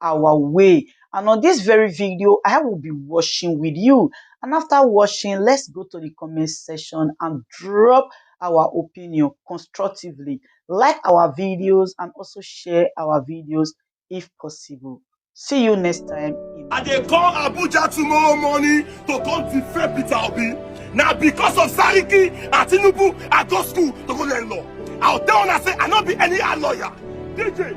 our way and on this very video I will be washing with you and after washing let's go to the comment section and drop our opinion constructively like our videos and also share our videos if possible see you next time I dey call Abuja tomorrow morning to come defend Peter Obi. Now because of Sariki and Tinubu, I go school to go learn law. I'll tell una say I not be any lawyer. DJ,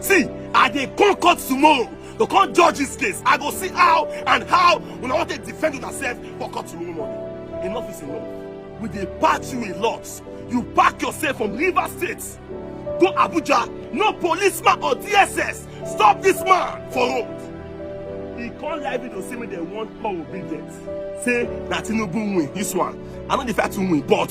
see i dey come court tomorrow to come judge this case i go see how and how una wan take defend yourself for court tomorrow morning enough is enough we dey pack you a lot you pack yourself from rivers state go abuja no policeman or dss stop this man for road he come live video say make dem warn paul obi death say na tinubu win this one i no dey fight to win but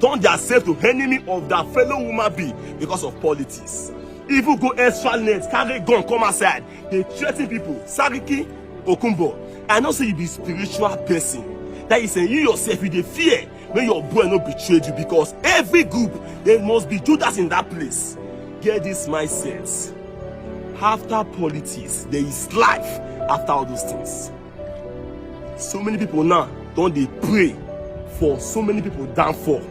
turn theirself to enemy of their fellow human being because of politics even go extra length carry gun come outside dey threaten people sariki okunbo i know say you be spiritual person that is say you yourself you dey fear make your boy no betray you because every group there must be judas in that place get this mindset after politics there is life after all those things. so many people now don dey pray for so many people downfall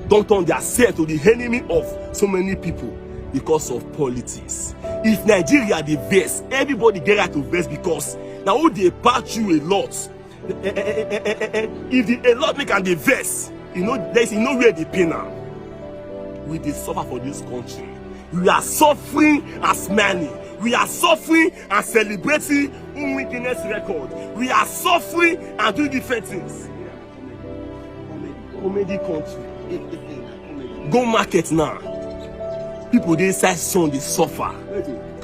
don turn their self to the enemy of so many people because of politics if nigeria dey vex everybody get right to vex because na who dey patch you a lot eh, eh, eh, if the a lot make am dey vex e no there is e no where dey pain am we dey suffer for this country we are suffering as many we are suffering and celebrating Nwi Guinness record. We are suffering and doing different things. Comedy country. Go market now. People dey inside sun dey suffer.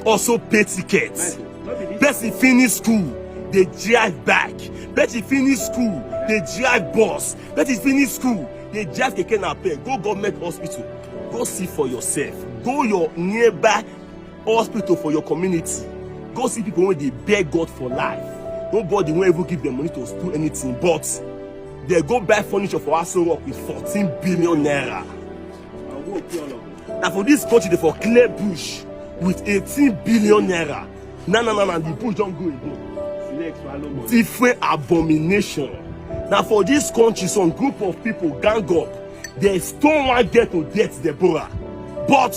Also pay tickets. Person finish school dey drive back. Person finish school dey drive bus. Person finish school dey drive keke napep. Go government hospital. Go see for yourself. Go your nearby hospital for your community go see people wey dey beg god for life nobody wan even give dem money to do anything but dey go buy furniture for aso rock with fourteen billion naira na for dis country dey for clear bush with eighteen billion naira na na na na the bush don go again different abomination na for dis country some group of people gang up dey stone one girl to death deborah but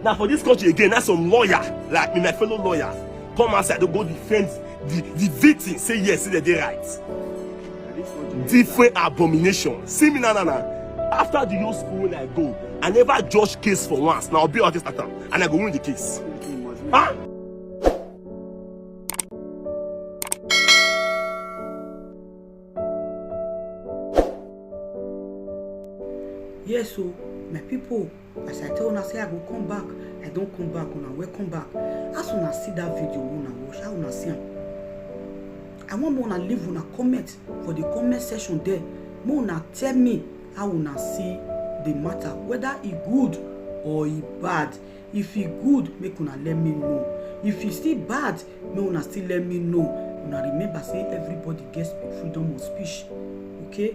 Now for this country again, that's some lawyer, like me, my fellow lawyer, come outside to go defend the, the victim, say yes, say they right. Different abomination. See me, na na na. After the whole school I go, I never judge case for once. Now I'll be artist at and I go win the case. Huh? Yes, so my people as i tell una say i go come back i don come back una welcome back as una see that video wey una watch how una see am i wan make una leave una comment for the comment section there make una tell me how una see the matter whether e good or e bad if e good make una let me know if e still bad make una still let me know una remember say everybody get freedom of speech okay